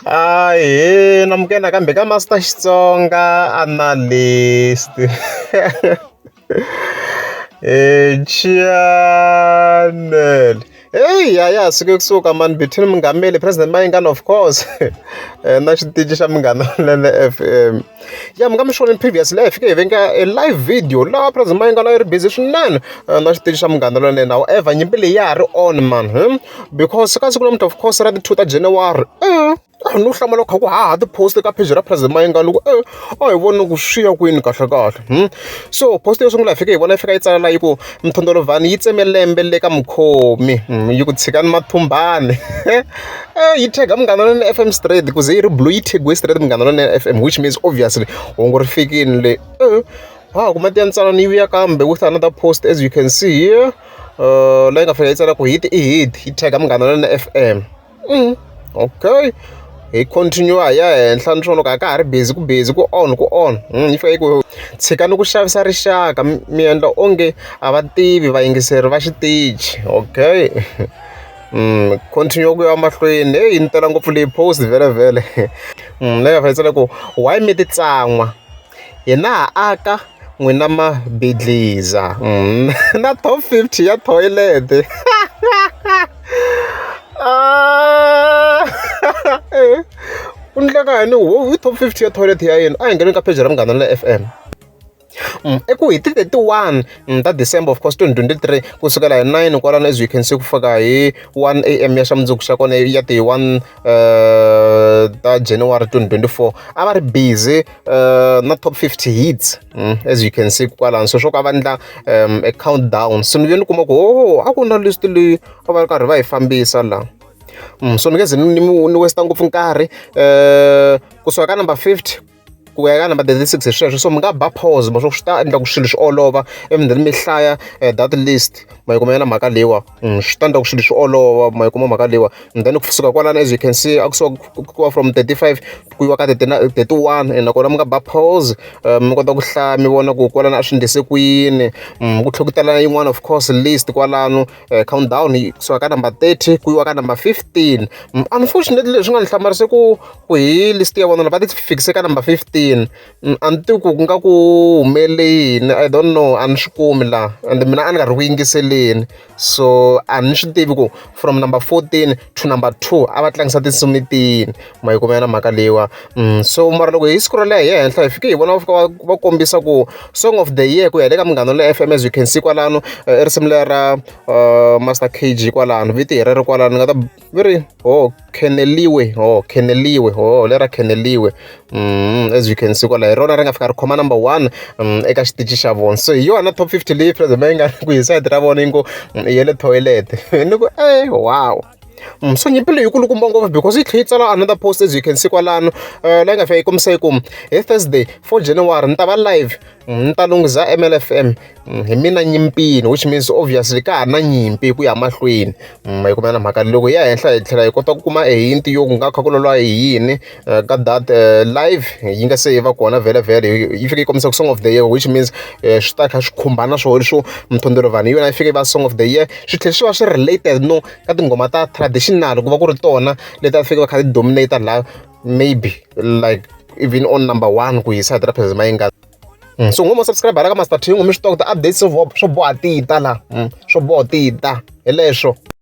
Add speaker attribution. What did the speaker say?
Speaker 1: Ahee amukela nakambe ka Master Xitsonga Analyst. Channel. Hey, ya ya suke kusuka mani between Mungameli President Mayingani of course na xitichi xa Munghana Lonene FM. Ya mi nga mi xoneni previous live fike hi venga a live video laha President Mayingani a yi ri busy swinene na xitichi xa Munghana Lonene however nyimpi leyi ya ha ri on mani. because ka siku namuntlha of course ra ti-two ta January a no hlamala kha ku haha ti-post ka page ra Present Mayengani loko e a hi voni ku swi ya kwini kahlekahle so post yo sungula hi fike hi vona yi fika yi tsala laha yi ku mthondolovhani yi tseme lembe le ka mukhomi yi ku tshikani mathumbani yi tag munghana lone F_M straight ku ze yi ri blue yi thegiwe straight munghana lone F_M which means obviously hungu ri fikini le ha kuma ti ya ntswalo ni yi vuya kambe with another post as you can see here leyi nga fanela yi tsala ku hit i hit yi tag-a Munghana Lonene F_M okay hi continue hi ya henhla ni swa loko a ka ha ri busy ku busy ku on ku on yi fanele yi ku tshikani ku xavisa rixaka mi endla onge a va tivi vayingiseri va xitichi okay continue ku ya mahlweni heyi ni tela ngopfu leyi post vhele vhele leyi a fanele yi tsala ku why mi ti tsan'wa. hina ha aka n'wina ma bidliza na top fifty ya toilet u endleka yini wo top fifty ya toilet ya yena a hi ngheni ka pheji ra munghana na F_M eku hi ti thirty one ta December of course twenty twenty three kusukela hi nine kwalano as you can see ku fika hi one A_M ya xa mundzuku xa kona ya ti one. uh, ta january 2024 a va ri busy uh, na top 50 hits mm, as you can see kwalano so swo ka va endla um, a countdown so ni ve ni kuma ku o oh, a ku na list leyi a va ri karhi va yi fambisa laha mm, so ni nge ze ni westa ngopfu nkarhi um kusuka ka number 50 ku ya ka number thirty six hi sweswo so mi nga ba pause mo swi ta endla ku swilo swi olova ivi then mi hlaya eh, that list ma yi kuma yena mhaka leyiwa mm, swi ta endla ku swilo swi olova ma yi kuma mhaka leyiwa and then kusuka kwalana as you can see a kusuka kuwa from 35 ku yiwa ka 31 and nakona mi nga ba pause eh, mi kota ku hlaya mi vona ku kwalana a swi ndlise ku yini mm, ku tlhokutela yin'wana of course list kwalano um count down yi suka ka number thirty ku yiwa ka number fifteen unfortunately leswi nga ni hlamarise ku ku hi list ya vona va ti fikise ka number fifteen a ni tivi ku ku nga ku humelele yini i don't know a ni swi kumi laha and mina a ni karhi ku yingiseleni so a ni swi tivi ku from number fourteen to number two a va tlangisa tinsimu tini ma yi kuma yona mhaka leyiwa so mara loko hi siku ro leha hi ya henhla hi fike hi vona va fika va va kombisa ku song of the year ku ya hi le ka Munghana Lonene F_M as you can see kwalano i risimu leri ra Master K_G kwalano vito hi rero kwalano ni nga ta va ri ho kheneliwe ho kheneliwe ho lera kheneliwe as you can see kwala hi rona ri nga fika ri khoma number one eka xitichi xa vona so hi yona top fifty leyi Free-Z yi nga ku hi side ra vona yi ngo ya le toilet ni ku e wow. So nyimpi leyi yi kulukumba ngopfu because yi tlhela yi tsala another post as you can see kwalano la yi nga fika yi kombisa yi ku hi Thursday four January ni ta va live ni ta lunghiza MLFM hi mina nyimpini which means obviously ka ha na nyimpi hi ku ya mahlweni ma yi kumela mhaka loko ya henhla hi tlhela hi kota ku kuma e hint yo ku nga kha ku lwa hi yini. ka that live yi nga se yi va kona vhelavhele yi fike yi kombisa ku song of the year which means swi ta kha swi khumbana swo leswo mthondolo vanhu hi yona yi fike va song of the year swi tlhela swi va swi related no ka tinghoma ta traditional ku va ku ri tona leti a fike va kha ti dominator laha maybe like even on number one ku hisa hi tirapheza ma yi nga Mm. so ngoma subscribe la ka master thingo mi swi tiva ku ti-updates swo boha tita la mm. swo boha tita hi leswo